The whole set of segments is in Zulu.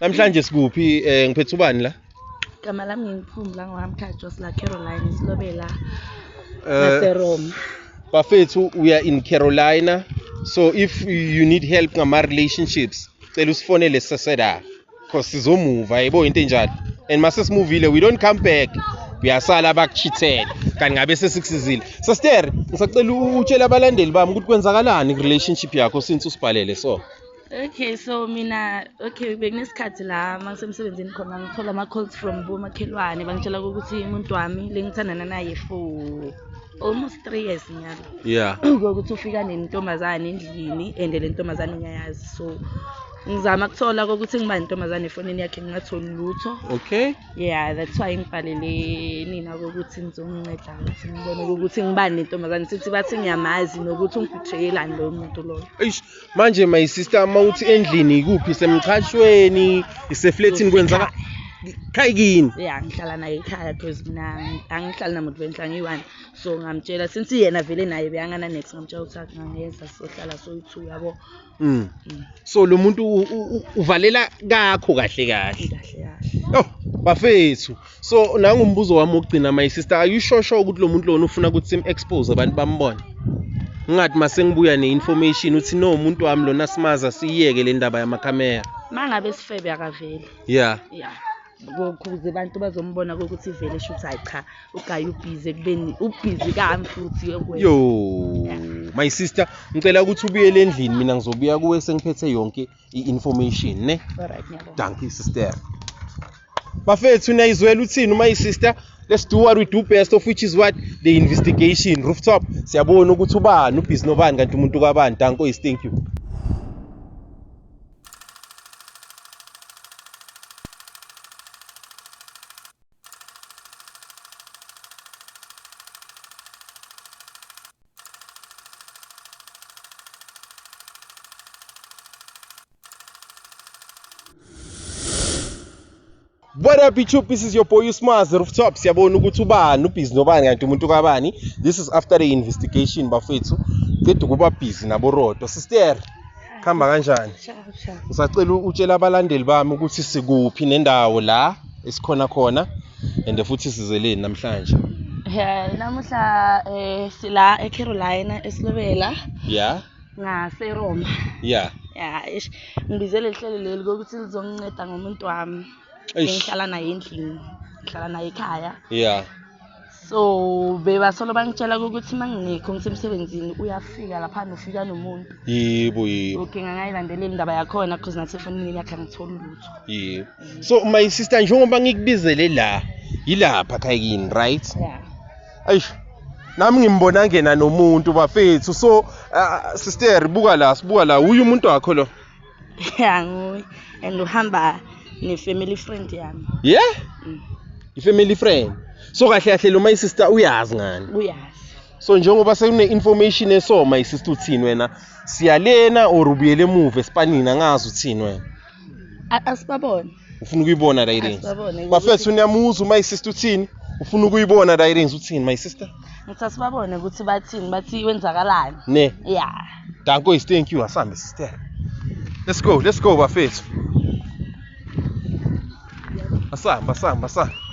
Namhlanje sikuphi eh ngiphethe ubani la? Igama lami ngingiphumbu la ngwaMthathu sila Caroline silobela Eh naseRome. bafethu we are in Carolina so if you need help ngama relationships cela usifonele seseda cause sizomuva yebo into enjalo and mase simuvile we don't come back uyasala bakuchithele kanti ngabe sesikusizile sister ngisacela utshela abalandeli bami ukuthi kwenzakalani ku relationship yakho since usibhalele so Okay, so mina okay bekunesikhathi la mangisemsebenzini khona ngithola ama-calls from bomakhelwane bangitshela ukuthi umuntu wami lengithandana naye for almost three years nyalo yeah ukuthi ufika nentombazane endlini and le ntombazane ngiyayazi so ngizama kuthola kokuthi ngiba nentombazane efonini yakhe ngingatholi lutho okay yeah that's why ngibhalele nina kokuthi ngizonginceda ukuthi ngibone ukuthi ngiba nentombazane sithi bathi ngiyamazi nokuthi ungiphitheyelani loyo muntu loyo manje my sister uma uthi endlini ikuphi isemchashweni isefletini kwenzaka khaya kini ya ngihlala naye ekhaya because mina angihlali namuntu benhla ngiyi-one so ngamtshela since yena vele naye beyangana next ngamtshela ukuthi akungangenza sohlala soyi-two yabo mm. mm. so lo muntu uvalela kakho kahle kahle kahle kahle oh bafethu so nangumbuzo wami wokugcina my sister are you sure sure ukuthi lo muntu lona ufuna ukuthi sim-expose abantu bambone ngingathi uma sengibuya ne-information uthi no umuntu wami lona simaza siyiyeke le ndaba yamakhamera uma ngabe sifebe akaveli ya ya kuze abantu bazombona kokuthi vele shuthi hayi cha ugaye ubhizi ekubeni ubhizi kami futhi yokwenza yo my sister ngicela ukuthi ubuyele endlini mina ngizobuya kuwe sengiphethe yonke i-information ne alright ngiyabonga dankie sister bafethu niyayizwela uthini uma isister let's do what we do best of which is what the investigation rooftop siyabona ukuthi ubani ubhizi nobani kanti umuntu kabani danko is thank you What up YouTube, this is your boy Usmaz Rooftop. Siyabona ukuthi ubani ubhizi nobani kanti umuntu kabani. This is after the investigation bafethu. Qeda ukuba busy nabo Rodo. Sister khamba kanjani ngisacela utshela abalandeli bami ukuthi sikuphi nendawo la esikhona khona and futhi sizeleni namhlanje Yeah, namuhla eh sila eCarolina esilobela. Yeah. NgaseRoma. Yeah. Yeah, ish. Ngibizele ihlelo leli ukuthi lizonginceda ngomuntu wami. Ngihlala naye endlini. Ngihlala naye ekhaya. Yeah. so bebasolo bangitshela ukuthi uma ngingekho ngisemsebenzini uyafika lapha nofika nomuntu yebo yebo okay ngangayilandelela indaba yakhona because nathi efonini yakhe angitholi lutho yebo so my sister njengoba ngikubizele la yilapha khayini right yeah ayish nami ngimbona ngena nomuntu bafethu so uh, sister buka la sibuka la uyu umuntu wakho lo ya nguye and uhamba ne-family friend yami yeah Mm. i-family friend so kahle kahle lo my sister uyazi ngani uyazi so njengoba sekune-information eso my sister uthini wena siyalena or ubuyele emuva esipanini angazi uthini wena A- asibabone ufuna ukuyibona la i-rings Asibabone. bafethu niyamuzwa uma isister uthini ufuna ukuyibona la i-rings uthini my sister Ngithi asibabone ukuthi bathini, bathi kwenzakalani. ne Ya. danko is thank you asambe sister let's go let's go bafethu asamba asamba asamba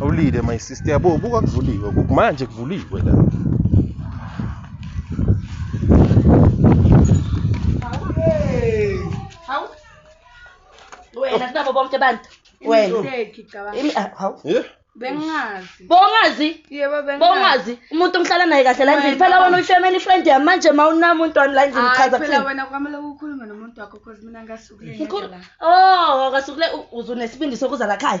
Awulile my sister yabo buka kuvuliwe kuku manje kuvuliwe la. wena sinabo bonke abantu wena Mistake, cabanga. Imi- ah, hawu. Yeah. Bengazi. bongazi Yebo bengazi. bongazi umuntu ngihlala naye kahle la endlini Wena. phela wena uyi-family friend yami manje ma unamuntu wani la endlini Hayi uchaza phela kuthini wena kwamele ukhulume nomuntu wakho cause mina ngasukile Mkhulu, ngedwa la. oh akasukule u- uze unesibindi sokuza la khaya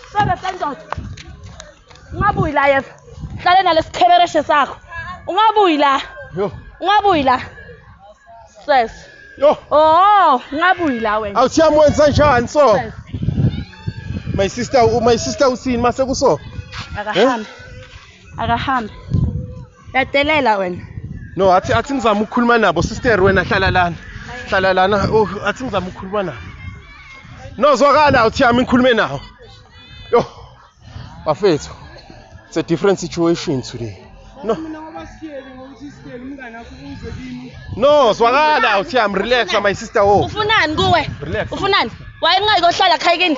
Sebe sendoda. Ungabuyi la yeva. Hlale nalesithebereshe sakho. Ungabuyi la. Yo. Ungabuyi la. Ses. Yo. Oh, ungabuyi la wena. Awuthiya mwenza njani so? My sister, my sister usini mase kuso? Akahambe. Eh? Akahambe. Yadelela wena. No, athi athi ngizama ukukhuluma nabo sister wena hlala lana. Hlala lana. Oh, athi ngizama ukukhuluma nabo. No, zwakala uthi yami ngikhulume nawo. Yo. Bafethu. It's a different situation today. No. No, zwakala uthi yami relax my sister wo. Oh. Ufunani kuwe? Relax. Ufunani? Wayengayi kohlala khayikini.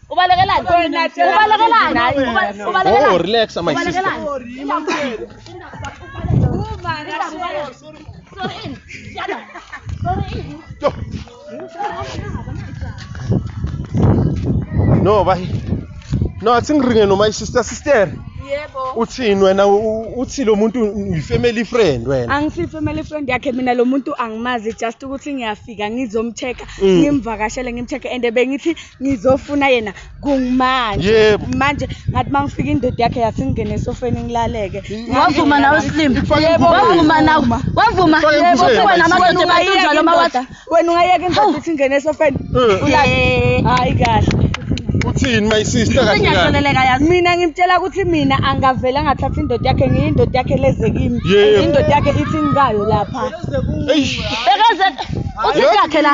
Ubalekelani? Ubalekelani? Uba- Ubalekelani? Oh, relax, my sister. Ubalekelani? Sorry, ini. Yana. Sorry, ini. No, bayi. No, athi ngiringe no my sister sister. Yebo. Uthini wena u- u- uthi lo muntu uyi family friend wena. angisi family friend yakhe mina lo muntu angimazi just ukuthi ngiyafika ngizomcheck Mm. ngimvakashele ngimcheck and bengithi ngizofuna yena kungimanje Yebo. manje ngathi uma ngifika indoda yakhe yasingene esofeni ngilaleke wavuma nawe slim Ifake Yebo, imvume. wavuma nawe wavuma Ifake yebo imvume. kuba namadoda Wena ungayeka ebatunjalo uma wathi indoda- wena ungayeka indoda ithi ngene esofeni Eh. Eh, hayi kahle Uthini my sister kahle kahle. ngiyahleleleka yazi mina ngimtshela ukuthi mina angavele angathatha indoda yakhe ngiyindoda yakhe leze kimi Yebo. indoda yakhe ithi ngikayo lapha Eish. bekeze uthi yakhe la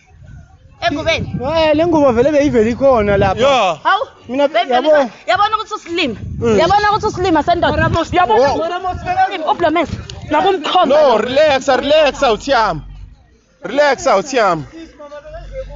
engubeni Eh le ngubo vele beyivele ikhona lapha. Yeah. hawu Mina Baby, yabo. Lisa, yabona ukuthi usilima Mm. yabona ukuthi usilima sendoda yabona ukuthi usilima, ublomes nakumkhomba No, relax, relax out yami. Relax out yami.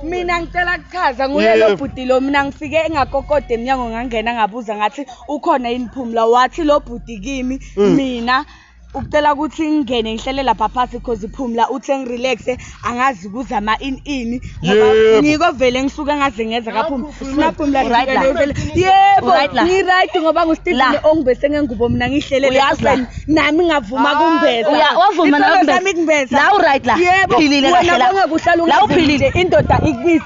mina ngicela kuchaza Yebo. nguyelo bhuti lo mina ngifike engakokode emnyango ngangena ngabuza ngathi ukhona yini phumla wathi lo bhuti kimi Mm. mina ukucela ukuthi ngingene ngihlele lapha phasi cause phumla uthe ngirelaxe angazi kuzama ini ini ngoba Yebo. ngiko vele ngisuke ngaze ngeza kaphumla sinaphumla Right la. ngivele yebo Right la. ngiright ngoba La. ngusteveni ongibese ngengubo mina ngihlele Uyazi la. leseni nami ngavuma kumbeza Uya- wavuma nawe Isithando kumbeza. sami kumbeza. La u-right la. yebo Uphilile kahle wena la. bonge kuhlala La ungazi uphilile. nje, indoda ikubisa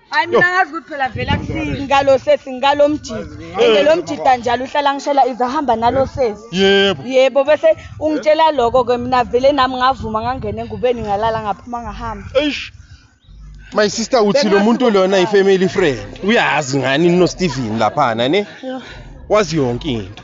hayi mina ngazi ukuthi phela vele akusiki ngalo sesi ngalo mjita ende lo mjita njalo uhlala ngishela ize ahamba nalo sesi yebo yebo bese ungitshela loko ke mina vele nami ngavuma ngangena engubeni ngalala ngaphuma ngahamba eish my sister uthi lo muntu lona i-family friend uyazi ngani nosteven laphana ne wazi yonke into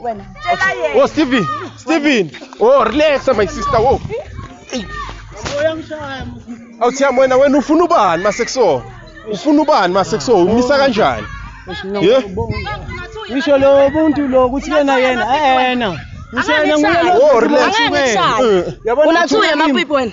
wena tshela yena oh steven steven oh relax my sister wo oh. awuthiyam wena wena ufuna ubani masekusona ufuna ubani masekusona umisa kanjani ye ngisho lo buntu lo ukuthi yena yena ayena ngisho yena nguye lo oh relax wena yabona unathi uye mapipi wena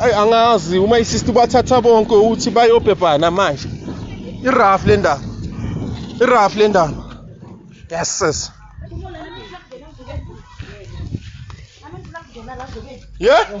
Ayi angazi uma isister bathatha bonke uthi bayobhebhana manje. Iraf le ndaba. Iraf le ndaba. Yes sis. Yeah?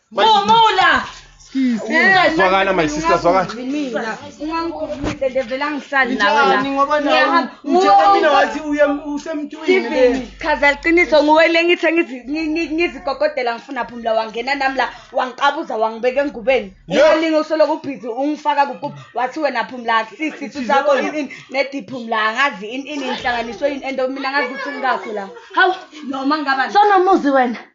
Mumula! Zwakala my sister zwakala. Mina ungangigumile nje vele angihlali nawe la. Njani ngoba nawe Ngiyahamba. utshela mina wathi uye usemntwini le. Steven, chaza liqiniso nguwe le ngithe ngizi- ngi- ngi- ngizikokotela ngifuna phumla wangena nami la wangiqabuza wangibeka engubeni Yeah. ungalinge usoloko ubhizi ungifaka kukuba wathi wena phumla akusisi isu sakho ini ini nedi phumla angazi ini ini inhlanganiso yini and mina angazi ukuthi ngikakho la hawu noma ngaba sonomuzi wena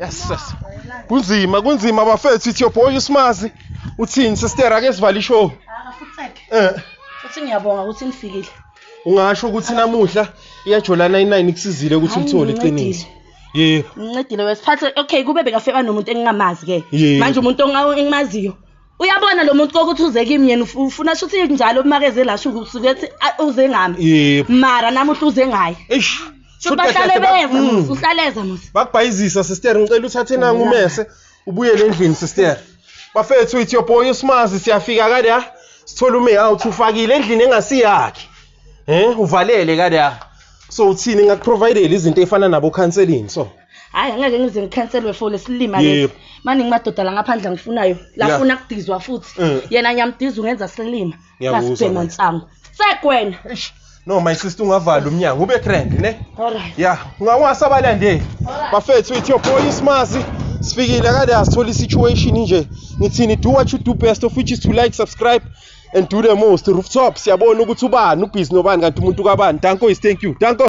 Yes yes. Kunzima kunzima bafethu ithi yoboy usimazi uthini sister ake sivale ishow. Akafutheke. Eh. Futhi ngiyabonga ukuthi nifikile. Ungasho ukuthi namuhla iyajolana i9 ikusizile ukuthi uthole iqiniso. Yebo. Ngincedile wesiphathe okay kube bekafeba nomuntu engingamazi ke. Manje umuntu engimaziyo uyabona lo muntu kokuthi uze kimi yena uf- ufuna shuthi njalo umakeze la shuku usuke ethi "Ah, uze ngami Yebo. mara namuhla uze ngaye Eish. Shuthi Shuthi kahle bahlale kahle beva ba- musa Mm. uhlaleza musa bakubhayizisa sister ngicela uthathe nangu umese ubuyele endlini sister bafethu ithi your boy usimazi siyafika kade ha sithola ume out ufakile endlini engasiyakhe eh uvalele kade ha so uthini ngakuprovidele izinto efana nabo counseling so hayi angeke ngize ngikhanselwe for lesilima lesi Yebo. maningi madoda la ngaphandle angifunayo Yeah. lafuna kudizwa futhi Mm. yena ngiyamdiza ungenza silima Ngiyakuzwa, lasibhema mama. nsangu sekwena Eish, no my sister ungavala umnyango ube crank ne Alright. ya ungawasa abalandeli bafethu with your boy ismazi sifikile kade asithola isituation nje ngithini do what you do best of which is to like subscribe and do the most rooftop siyabona ukuthi ubani ubhizi nobani kanti umuntu kabani danko is thank you danko